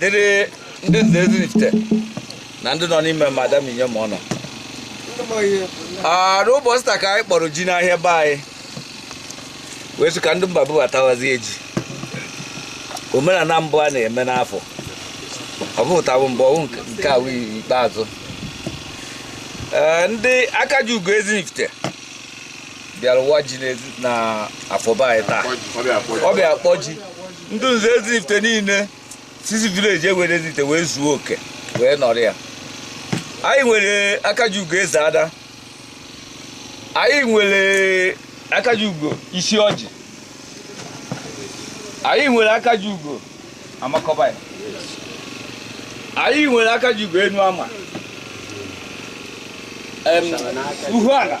dịrị ndị nze Ezinifite na ndị nọ n'ime ma ada ma inyom ọna n'ụbọchị taa ka anyị kpọrọ ji n'ahịa be anyị wee sị ka ndị mba bubatawazie ji omenala mbụ a na-eme n'afọ ọ bụghị taa bụ mbụ ọ wụghị nke a wụ ikpeazụ Ee, ndị aka ji ugo Ezinifite bịara ịwa ji n'ezi- na afọ be anyị taa ọ bịa kpọ ji ndị nze Ezinifite niile si isi village e nwere Ezinifite wee zuo oke wee nọrọ ya anyị nwere akaji ugo Ezeada anyị nwere akaji ugo Isiọjị anyị nwere akaji ugo Amakọba anyị nwere akaji ugo Enuama em, Uhuala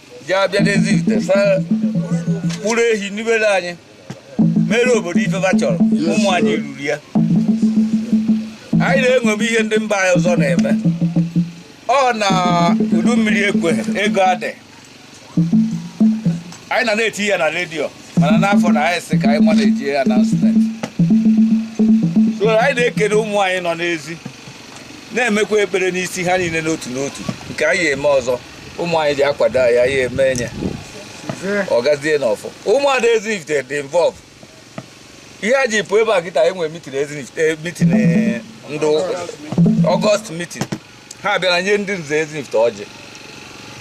ji abịa n'Ezinifite saa kpụrụ ehi nibere anyị mere obodo ife a chọrọ ụmụ anyị rụrụ ya anyị na-emebe ihe ndị mba ọzọ na-eme ọ na udu mmiri ekwe ego adị anyị na na-eti ya na redio mana n'afọ na anyị sị ka anyị ma na-eji ya na steeti so anyị na-ekele ụmụ anyị nọ n'ezi na-emekwa ekpere n'isi ha niile n'otu n'otu nke anyị eme ọzọ ụmụ anyị ji akwado anyị anyị eme enye ọ gazie n'ọfọ ụmụada Ezinifite dị involve ihe a ji pụ ebe a kịta enwe meeting Ezinifite meeting ndị August meeting ha bịara nye ndị nze Ezinifite ọjị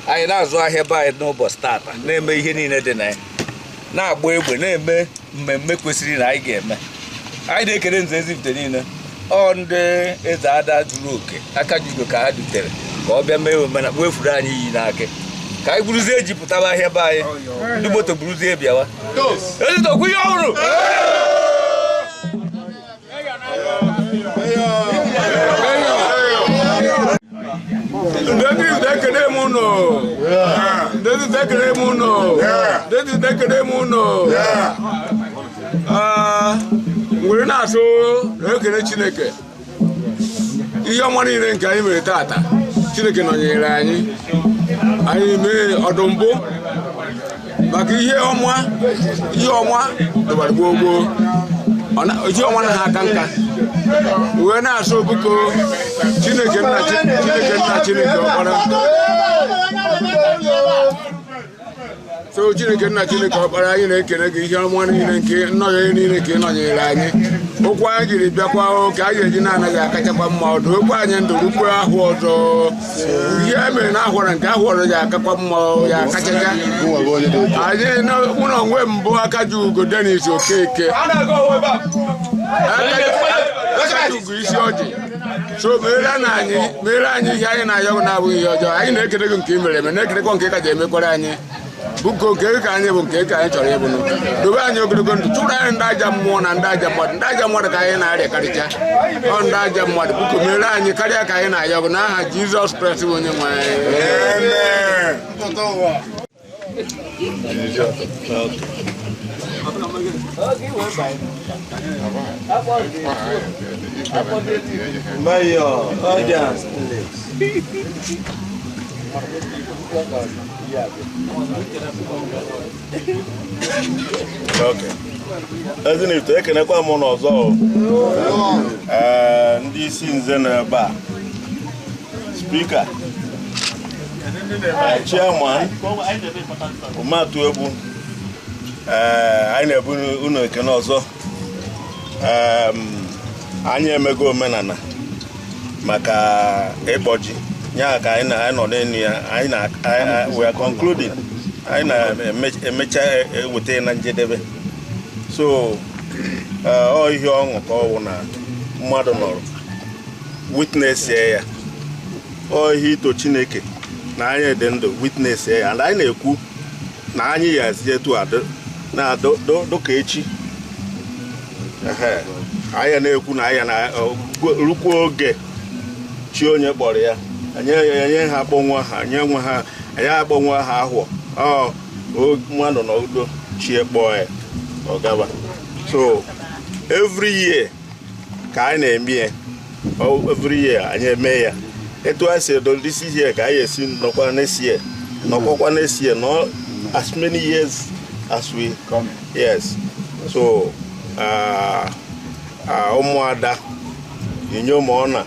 anyị na-azụ ahịa be anyị n'ụbọchị tata na-eme ihe niile dị na ya na-agba egbe na-eme mmemme kwesịrị na anyị ga-eme anyị na-ekele nze Ezinifite niile ọ ndị Ezeada zuru oke aka ji ugo ka ha dutere ka ọ bịa mee omenala wefuru anyị iyi n'aka ka anyị buruzie ji pụtaba ahịa be anyị ndị moto buruzie bịawa ezitokwu ihe ọhụrụ ndezi ndekere m ụnụ were na-asị ekele chineke ihe ọma niile nke anyị mere tata chineke nọnyere anyị anyị mee ọdụ mbụ maka ihe ọma ihe ọma dọbara gboo gboo Ọ na- ihe ọma na ha aka nka wee na-asị obuko chineke nna Chi- chineke nna chineke ọkpara so chineke nna chineke ọkpara anyị na-ekele gị ihe ọma niile nke nnọnyere niile nke ị nọnyere anyị okwu anyị jiri bịakwa o, ka anyị eji na-anaghị akachakwa mma ọdụ okwu anyị ndụ rukwe ahụ ọzọ ihe e mere na ahwara nke ahwọ ọzọ ya akakwa mma ya akachacha anyị na mụ na onwe m bụ aka ji ugo denis okeke ugo isi ọjị so mere na anyị mere anyị ihe anyị na-ayọ na-abụghị ihe ọjọọ anyị na-ekele gị nke i mere eme na-ekelekwa nke ị ka ji emekwara anyị biko nke ka anyị bụ nke ka anyị chọrọ ịbụ dobe anyị ogologo ndụ chụrụ anyị ndị ajọ mmụọ na ndị ajọ mmadụ ndị ajọ mmadụ ka anyị na-arịakarịcha ọ ndị ajọ mmadụ biko mere anyị karịa ka anyị na-ayọ gị n'aha Jizọs Kraịst bụ onye nwe anyị ezinifite ekenekwa m unu ọzọ ee ndị isi nze nọ ebe a speaker chairman ụmatụ egwu ee anyị na-ebu unu ekene ọzọ anyị emego omenala maka ịkpọ ji ya ka anyị nọ n'enu ya anyị na we are concluding anyị na-emecha eweta e, e, e, na njedebe so ọ ihe ọṅụ ka ọ wụ na mmadụ nọrọ witness ya ọ ihe ito chineke na anyị dị ndụ witness ya and anyị na-ekwu na anyị ya esi etu nọdụ ka echi anyị na-ekwu na anyị ya anọrukwa oge chi onye kpọrọ ya enye ha akpọnwa ha nye nwa ha anyị akpọnwa ha ahụ mmadụ na udo chi ya kpọọ ya ọ gaba so every year ka anyị na-eme ya every year anyị eme ya etu anyị si edo this year ka anyị esi nọkwa next year nọkwakwa next year nọ as many years as we come yes so ah, ah, ụmụada inyom ọna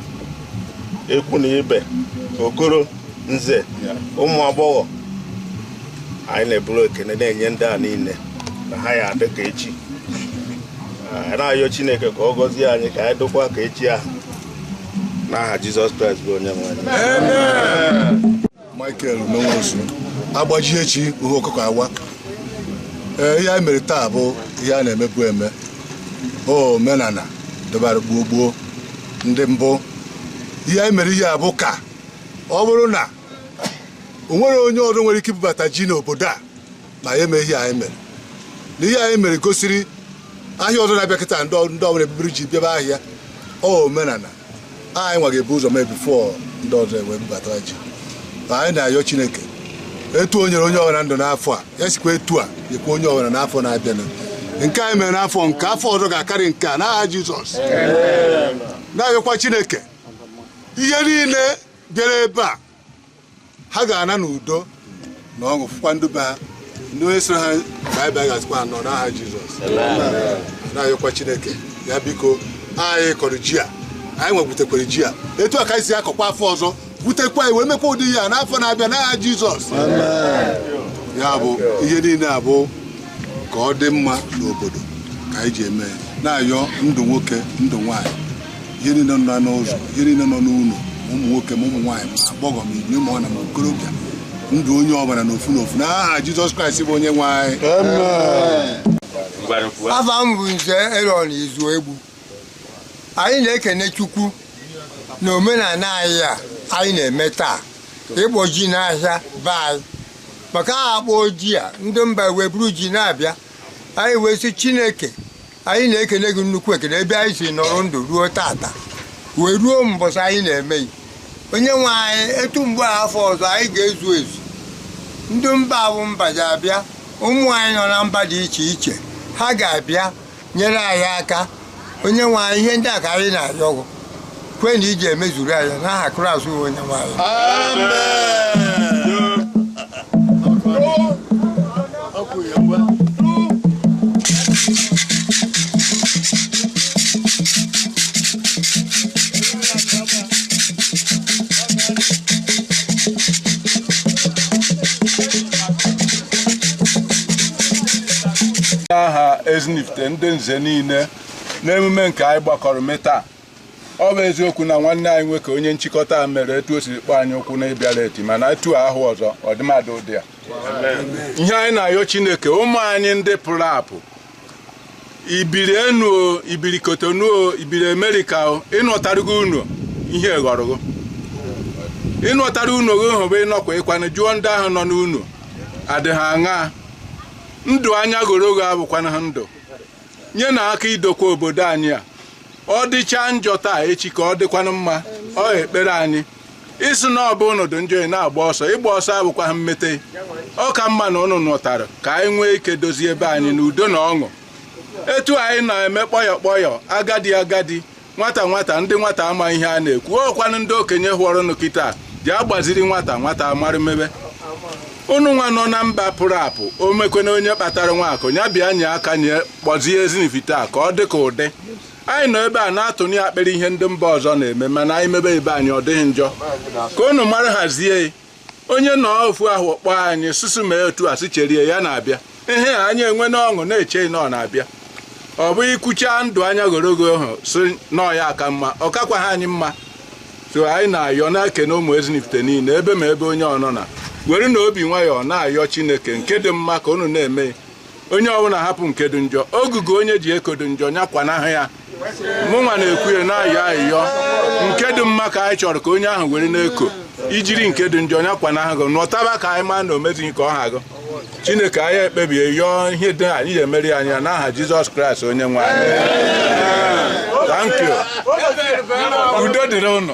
ikwu na ibe okoro nze ụmụ agbọghọ anyị na-eburu ekene na-enye ndị a niile na ha ya adị ka echi anyị na-ayọ chineke ka ọ gọzie anyị ka anyị dịkwa ka echi ahụ n'aha jizọs kraịst bụ onye nwe anyị michael menwosu agbaji echi uhe ọkụkọ awa ee ihe anyị mere taa bụ ihe a na-emebu eme omenana dịbara gboo gboo ndị mbụ ihe anyị mere ihe a bụ ka ọ bụrụ na o nwere onye ọrụ nwere ike ibubata ji n'obodo a ma ya eme ihe anyị mere na ihe anyị mere gosiri ahịa ọzọ na-abịa kịta ndị ọ- ndị ọbụla ebubiri ji bịaba ahịa ọ omenala anyị nwa ga-ebu ụzọ mee bifo ndị ọzọ ewee bubata ji ma anyị na-ayọ chineke etu o nyere onye ọbụla ndụ n'afọ a ya sikwa etu a nyekwa onye ọbụla n'afọ na-abịanụ nke anyị mere n'afọ a nke afọ ọzọ ga-akarị nke a n'aha jizọs na-ayọkwa chineke ihe niile bịara ebe a ha ga-ana n'udo na ọṅụ fụkwa ndị be ha ndị onye sịrị ha baịbaị ga-asịkwa ha nnọọ n'aha jizọs na-ayọkwa chineke ya biko anyị kọrọ ji a anyị nwa gwutekwara ji a etu a ka anyị si akọkwa afọ ọzọ gwutekwa wee mekwa ụdị ya n'afọ na-abịa n'aha jizọs ya bụ ihe niile a bụ ka ọ dị mma n'obodo ka anyị ji eme na-ayọ ndụ nwoke ndụ nwaanyị ihe niile nọ n'ụzọ ihe niile nọ n'ụlọ ụmụ nwoke ma ụmụ nwaanyị ma agbọghọ ma inyom ma ọ na ma okorobịa ndụ onye ọbụla n'ofu n'ofu n'aha Jizọs Kraịst bụ onye nwe anyị afa m bụ nze Erọn Izuegbu anyị na-ekene Chukwu na omenala anyị a anyị na-eme taa ịkpọ ji n'ahịa be anyị maka a ga-akpọ ji a ndị mba wee buru ji na-abịa anyị wee sị Chineke anyị na-ekene gị nnukwu ekene ebe anyị si nọrọ ndụ ruo tata wee ruo mbọsị anyị na-emeghị onye nwe anyị etu mgbe a afọ ọzọ anyị ga-ezu ezu ndị mba bụ mba ja-abịa ụmụ anyị nọ na mba dị iche iche ha ga-abịa nyere anyị aka onye nwe anyị ihe ndị a ka anyị na-ayọ gị kwe na ị je-emezuru anyị ya n'aha Kraịst bụ onye nwe anyị aha ezinifite ndị nze niile n'emume nke anyị gbakọrọ mee taa ọ bụ eziokwu na nwanne anyị nwoke onye nchịkọta a mere etu o siri kpọ anyị ụkwụ na ịbịa leti mana etu a ahụ ọzọ ọdịmadụ ụdị a ihe anyị na-ayọ chineke ụmụ anyị ndị pụrụ apụ i biri enu o i biri kotonu o i biri amerịka o ị nọtarọ ụnọ ihe ghọrọ gị ị nọtara ụnọ gị hụba ịnọkwa ịkwanụ jụọ ndị ahụ nọ n'ụnọ adịghị aṅa ndụ anya goro gị abụkwana ha ndụ nyenụ aka idokwa obodo anyị a ọ dịcha njọ taa echi ka ọ dịkwanụ mma ọ ekpere anyị ị sị na ọ bụ ụnọ dị njọ ị na-agba ọsọ ịgba ọsọ abụkwahụ mmete ọ ka mma na unu nọtara ka anyị nwee ike dozie ebe anyị n'udo na ọṅụ etu anyị na-eme kpọyọ kpọyọ agadi agadi nwata nwata ndị nwata ama ihe a na-ekwu ọkwanụ ndị okenye hụọrọnụ kịta ji agbaziri nwata nwata amara mebe unu nwa nọ na mba pụrụ apụ o mekwe na onye kpatara nwa akụ ya bịa nye aka nye kpọzie ezinifite a ka ọ dị ka ụdị anyị nọ ebe a na-atụnye akpịrị ihe ndị mba ọzọ na-eme mana anyị mebe ibe anyị ọ dịghị njọ ka unu mara hazie onye nọ ofu ahụ kpọọ anyị susu mee otu a sị cherie ya na-abịa ihe a anyị enwe n'ọṅụ na-eche na ọ na-abịa ọ bụ ikwucha ndụ anya gorogo ahụ sị na ọ ya aka mma ọ kakwaghị anyị mma so anyị na-ayọ na-ekene ụmụ ezinifite niile ebe ma ebe onye ọ nọna were na obi nwayọọ na-ayọ chineke nke dị mma ka unu na-eme onye ọbụla hapụ nke dị njọ ogugu onye ji eko dị njọ nya kwanahụ ya mụnwa na-ekwu ya na-ayọ ayịyọ nke dị mma ka anyị chọrọ ka onye ahụ were na-eko i jiri nke dị njọ nya kwanahụ gị nọtaba ka anyị maa na o mezighị ka ọ ha gụ chineke anyị ekpebie yọọ ihe dị anyị ga-emere anyị ya n'aha jizọs kraịst onye nwe anyị thank you udo dịrị unu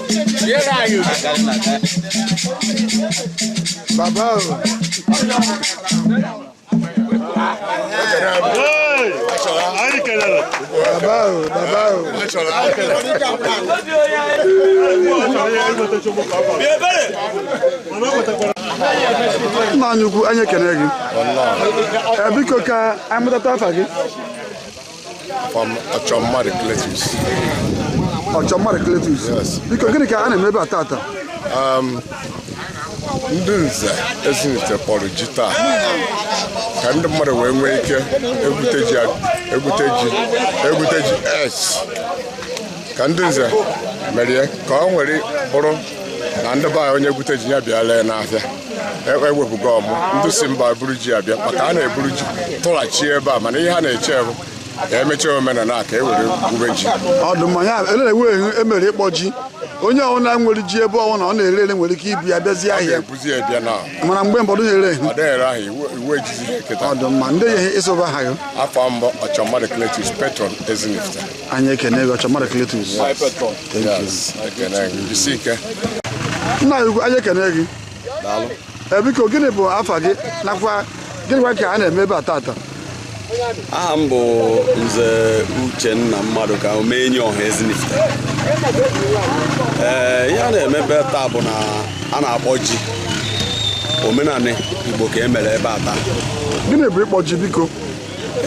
Baba o. Anyị kelere. Baba o, baba o. Nna anyị ukwu, anyị ekene gị. Ee, Biko ka a mụtata afa gị. Afa m Ọchọmmadụ Cletus. Ọchọmmadụ Cletus? Yes. Biko gịnị ka a na-eme ebe a tata? Um, ndị nze Ezinifite kpọrọ ji taa ka ndị mmadụ wee nwee ike egwute ji egwute ji egwute ji yes ka ndị nze mere ka o were bụrụ na ndị be anyị onye gwute ji ya bịa lee n'afịa ewepụgo e ọmụ ndị si mba buru ji abịa maka a na-eburu ji tụghachi ebe a mana ihe a na-eche bụ ka e mechaa omenala ka e were gwube ji ọdụm ya elewe emere ịkpọ ji onye ọbụla nwere ji ebe ọbụla ọ na-ere ere nwere ike ibu ya bịazi ahịa mana mgbe mbụ a dị na-ere ọ dị mma ndị ya ị sị bụ aha gị afa m bụ ọchọmmadụ kletus patron ezinifite anyị ekene gị ọchọmmadụ kletus nna anyị ukwu anyị ekene gị Ee, biko gịnị bụ afa gị nakwa gịnịkwa ka a na-eme ebe a tata aha m bụ nze uchenna mmadụka omenye ọha ezinifite ee ihe a na-eme ebe a taa bụ na a na-akpọ ji omenanị igbo ka e mere ebe a taa gịnị bụ ịkpọ ji biko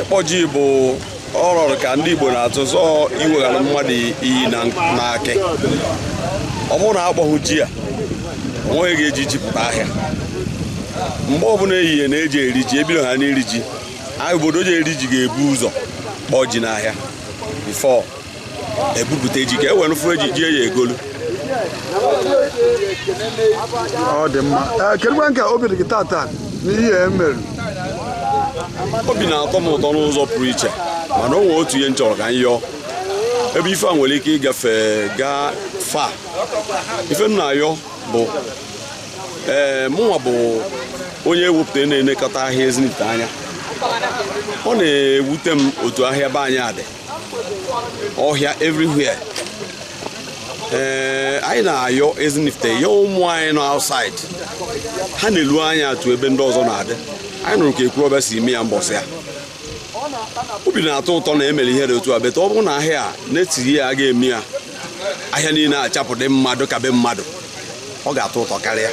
ịkpọ ji bụ ọ rọrọ ka ndị Igbo na-atụ zọọ iweghara mmadụ iyi n'aka ọ bụrụ na akpọghị ji a onweghị ga-eji ji pụta ahịa mgbe ọbụla ehihie na-eji eri ji ebido ha n'iri ji ahịa obodo ji eri ji ga-ebu ụzọ kpọọ ji n'ahịa before ebupụta ji ka e were fụ eji ji ya egolu ọ dị mma ee kedụkwa nke obi dị gị tata n'ihe e mere obi na-atọ m ụtọ n'ụzọ pụrụ iche mana o nwee otu ihe m chọrọ ka m yọọ ebe ife a nwere ike ịgafe gaa fa ife m na-ayọ bụ ee mụnwa bụ onye ewepụta na-enekọta ahịa Ezinifite anya ọ na-ewute m otu ahịa be anyị a dị ọhịa everywhere ee eh, anyị na-ayọ Ezinifite ya ụmụ anyị nọ outside ha na-elu anya etu ebe ndị ọzọ na-adị anyị nụrụ ka Ekwulobia si mee ya mbọsị a obi na-atọ ụtọ na emere ihe dị otu a beta ọ bụrụ na ahịa a next year aga eme ya ahịa niile achapụ dị mma dị ka be mmadụ ọ ga-atọ ụtọ karịa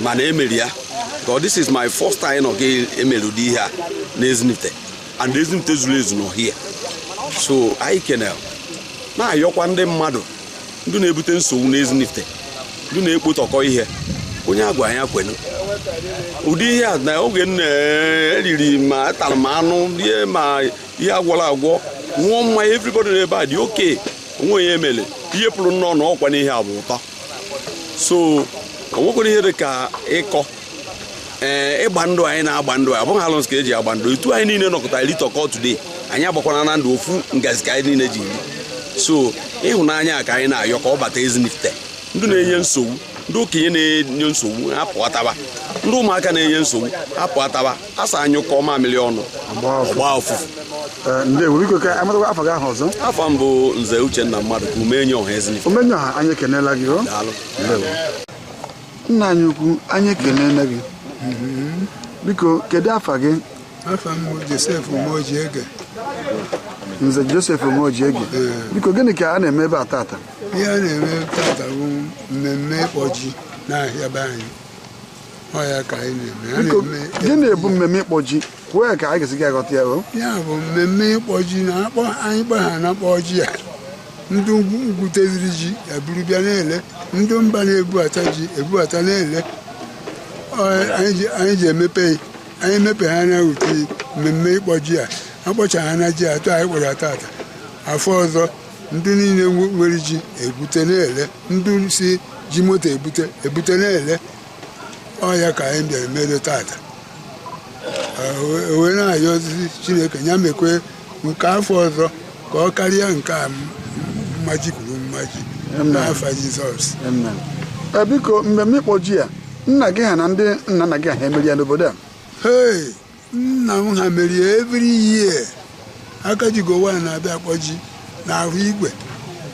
mana emere ya ka this is my first time na emere ụdị ihe a na Ezinifite and Ezinifite zuru ezu nọ here so anyị kenee na-ayọkwa ndị mmadụ ndị na-ebute nsogbu n'Ezinifite ndị na-ekpotọkọ ihe onye agwana ya kwenu ụdị ihe a na oge nna eriri ma atara ma anụ rie ma ihe agwọrọ agwọ ṅụọ mmanya everybody n'ebe a dị okay o nwe onye emele ihe pụrụ nnọọ na ọkwa n'ihe a bụ ụtọ so o nwekwara ihe dị ka ịkọ ee ịgba ndụ anyị na-agba ndụ a bụghị alụsị ka eji agba ndụ etu anyị niile nọkọtara litọkọ today anyị agbakwana na ndụ ofu ngazi ka anyị niile ji eri so ịhụnanya a ka anyị na-ayọ ka ọ bata Ezinifite ndị na-enye nsogbu ndị okenye na-enye nsogbu apụ ataba ndị ụmụaka na-enye nsogbu apụ ataba a sị anyụkọọ mamịrị ọnụ ọ gbaa ụfụfụ Ee, ndewo biko ka amatakwa afa gị ahụ ọzọ afa m bụ nze uchenna Mmadụka omenye ọha Ezinifite omenye ọha anyị ekenela gị o daalụ ndewo nna anyị ukwu anyị ekelena gị biko kedu afa gị afa m Joseph Umeojiege nze Joseph Umeojiege biko gịnị ka a na-eme ebe a tata ihe a na-eme tata bụ mmemme ịkpọ ji n'ahịa be anyị ọ ya ka anyị na-eme biko gịnị bụ mmemme ịkpọ ji kwuo ka anyị ga-esi aghọta ya o ya bụ mmemme ịkpọ ji na akpọ anyị kpọ ha na kpọọ ji a ndị ugwu gwuteziri ji eburu bịa na-ele ndị mba na-ebubata ji ebubata na-ele Ọ, anyị ji- anyị ji emepe ya. anyị mepe ha na ute mmemme ịkpọ ji a akpọcha ha na ji atọ anyị kpọrọ tata afọ ọzọ ndị niile nwe- nwere ji ebute na-ele ndị si ji moto ebute ebute na-ele ọ ya ka anyị bịara mere tata wee na-ayọzi chineke ya mekwe nke afọ ọzọ ka ọ karịa nke a mmaji kwuru mmaji n'afa jizọs e, biko mmemme ịkpọ ji a nna gị ha na ndị nna nna gị ha emeri ya n'obodo a nna m ha mere ya every year aka ji gowa na-abịa akpọ ji n'ahọ igwe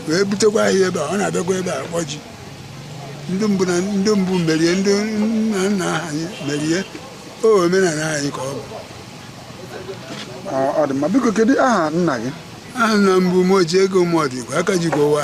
wee butekwa ahịa ebe a ọ na-abịakwa ebe a akpọ ji ndị mbụ na ndị mbụ merie ndị nna nna anyị merie o omenala anyị ka ọ bụ Ọ- ọ dị mma biko kedu aha nna gị aha nna m bụ umeojiego mọdụ igwe aka ji gowa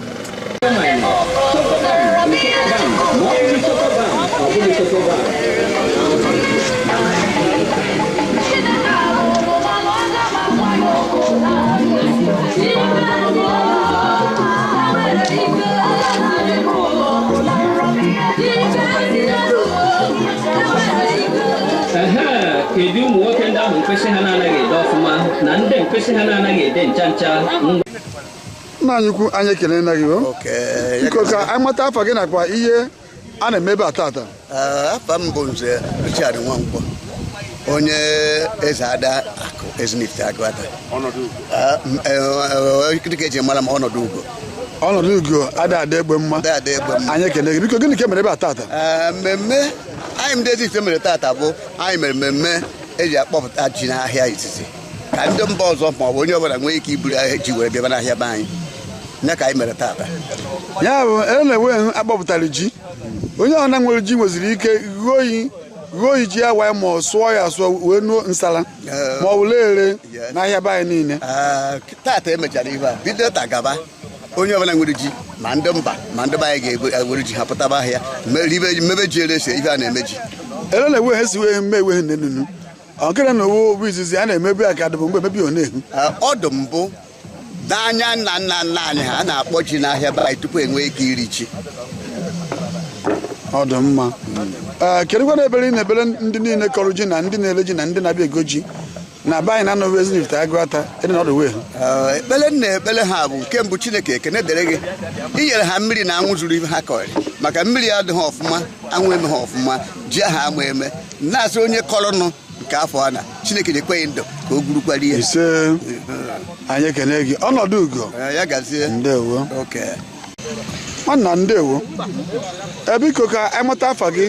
kedu ụmụ nwoke ndị ahụ mkpịsị ha na-anaghị ede ọfụma na ndị mkpịsị ha na-anaghị ede ncha ncha nna anyị ukwu anyị ekelena gị o Okay. biko ka anyị mata afa gị nakwa ihe a na-eme ebe a tata Ah, afa m bụ nze Richard Nwankwo onye ezeada akụ ezinifite agụata Ah, m- eh, eh, dịka eji mara m ọnọdụ ugo ọnọdụ ugo ada adị egbe mma Ada adị egbe mma. anyị ekele gị biko gịnị ka e mere ebe a tata Ah, mmemme anyị ndị ezinifite mere tata bụ anyị mere mmemme eji akpọpụta ji n'ahịa izizi ka ndị mba ọzọ ma ọ bụ onye ọbụla nwee ike iburu ahịa ji were bịaba n'ahịa be anyị ya ka anyị mere tata ya bụ e na-enwe hụ akpọpụtara ji onye ọbụla nwere ji nweziri ike ghuo oyi ghuo oyi ji ya wee ma ọ sụọ ya asụọ wee nuo nsala ma ọ bụ na-ere n'ahịa be anyị niile Ah, tata emechara ihe a bido taa gaba onye ọbụla nwere ji ma ndị mba ma ndị be anyị ga-ewere ji ha pụtaba ahịa mere ibe- mebe ji ere ese ife a na-eme ji ele na-enwe ha si wee mee enwe ha nne nunu ọkịra na owu ọ bụ izizi a na-emebu ya ka adịbụ mgbe emebi ọ na-ehu ọ dụ mbụ n'anya nna nna nna anyị ha a na-akpọ ji n'ahịa be anyị tupu enwee ike iri ji ọ dị mma ee kedụkwanụ ekpere ị na-ekpere ndị niile kọrọ ji na ndị na-ele ji na ndị na-abịa ego ji na be anyị na anọghị ezinifite agụata ịdị na ọdụ wee ha Ee, ekpele m na-ekpele ha bụ nke mbụ chineke ekene dịrị gị i nyere ha mmiri na anwụ zuru ihe ha kọrị maka mmiri adịghị ọfụma anwụ emeghị ọfụma ji ha ama eme na-asị onye kọrọnụ nke afọ a na chineke nyekwe gị ndụ ka o gburukwara ihe ise anyị ekene gị ọnọdụ ugo Eh, ya gazie ndewo oke nwanna ndewo Eh, biko ka anyị mata afa gị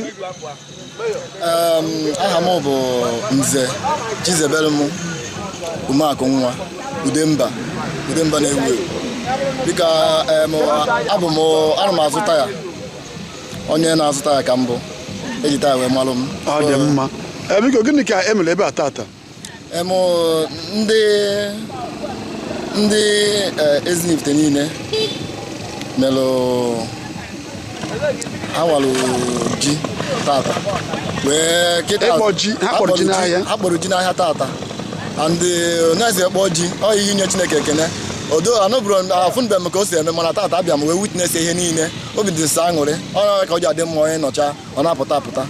Um, aha m bụ nze chizebelum umeakụ nwa udemba udemba na-ewu ewu dịka um, abụ m ana m azụ taya onye na-azụta ya ka m bụ e ji taa wee malụ m ọ dị mma Eh, biko gịnị ka e mere ebe a tata em o, ndị ndị eh, Ezinifite niile melụ ha walụ ji tata wee kịta Ịkpọ ji, ha kpọrọ ji n'ahịa. ha kpọrọ ji n'ahịa tata and onye eze kpọọ ji ọ ihe inye chineke ekene although anụbụrụ afụbe m ka o si eme mana tata abịa m wee witness ihe niile obi dị m sọ aṅụrị ọ na ka ọ ji adị mma onye nọcha ọ na-apụta apụta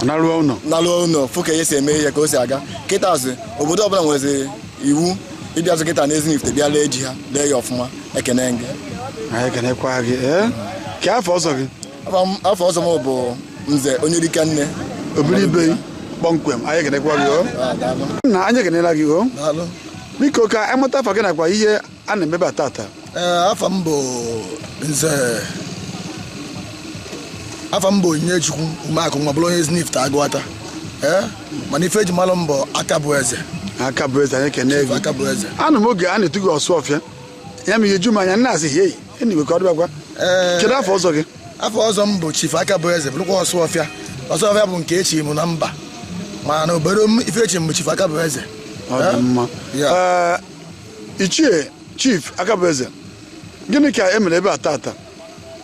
naruo ụlọ naruo ụlọ fụ ka ihe si eme ihe ka o si aga kịta azụ obodo ọbụla nwezi iwu ịbịa azụ kịta na Ezinifite bịa lee ji ha lee ya ọfụma ekene gị anyị ekenekwa gị ee kee afa ọzọ gị afa ọzọ m bụ nze onye dike nne obere ibe kpọmkwem anyị ekenekwa gị o ah, nna anyị ekenela gị o biko ka anyị mata afa gị nakwa ihe a na-eme ebe a tata ee afa m bụ nze afa m bụ Onyinyechukwu Umeakụ nwa bụrụ onye Ezinifite Aguata ee mana ife e ji malụ m bụ aka bụ eze aka bụ eze anyị ekene gị aka bụ eze anụ m oge a na-etu gị ọsụ ọfịa ya ma ihe ju m anya m na-asị hei anyway ka ọ dịbakwa Ee. kedu afa ọzọ gị afa ọzọ m bụ chief aka bụ eze bụrụkwa ọsụ ọfịa ọsụ ọfịa bụ nke e chi m na mba mana obodo m ife e chi m bụ chief aka bụ eze ọ dị mma Ya. Ee, ichie chief akabueze gịnị ka e mere ebe a tata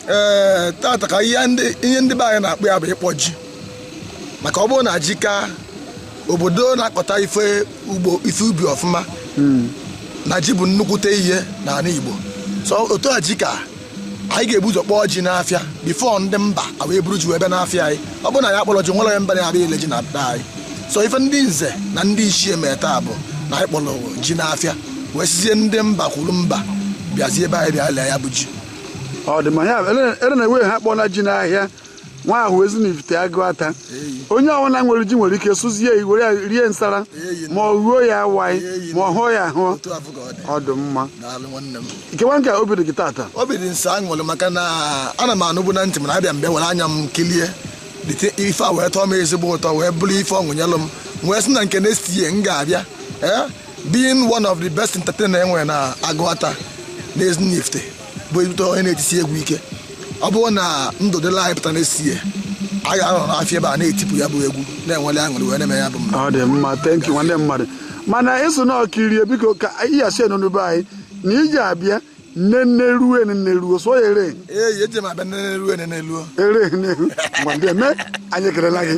ee tata ka ihe ndị ihe ndị be anyị na-akpọ ya bụ ịkpọ ji maka ọ bụrụ na ji ka obodo na-akọta ife ugbo ife ubi ọfụma na ji bụ nnukwute ihe n'anị Igbo so otu a ji ka anyị ga-ebu ụzọ kpọọ ji n'afịa before ndị mba ewee buru ji wee bịa n'afịa anyị ọ bụrụ na anyị akpọrọ ji o nwerọ onye mba na-abịa ile ji na be anyị so ife ndị nze na ndị ichie mee taa bụ na anyị kpọrọ ji n'afịa wee sizie ndị mba kwuru mba bịazie be anyị bịa lee ya bụ ji ọ dị mma ya ere na ewe ha kpọọ na ji n'ahịa nwa ahụ Ezinifite Aguata onye ọbụla nwere ji nwere ike sụzie ya were ya rie nsala ma ọ ruo ya awaị ma ọ hụọ ya ahụ otu ahụ ka ọ dị ọ dị mma daalụ nwanne m keekwa ka obi dị gị tata obi dị m sọ aṅụrị maka na ana m anụbu na ntị mana abịa m bịa were anya m kilie dịte ife a wee tọọ m ezigbo ụtọ wee bụrụ ife ọṅụ nyelụ m m wee sị na nke next year m ga-abịa eh, being one of the best entertainer e nwere na Aguata na Ezinifite bụ ezigbote onye na-etisi egwu ike ọ bụrụ na ndụ dịla anyị pụta next year a ga-anọ n'afịa ebe a na-etipụ ya bụ egwu na-enwele aṅụrị wee na-eme ya bụ mma ọ dị mma thank you nwanne mmadụ mana ị so na-ekiri e biko ka ịyachi enunube anyị na i ji abịa nne nne ruo nne ruo so ya ere ee eji m abịa nne ruo nne ruo ere nne ruo mgbe ndị eme anyị ekelela gị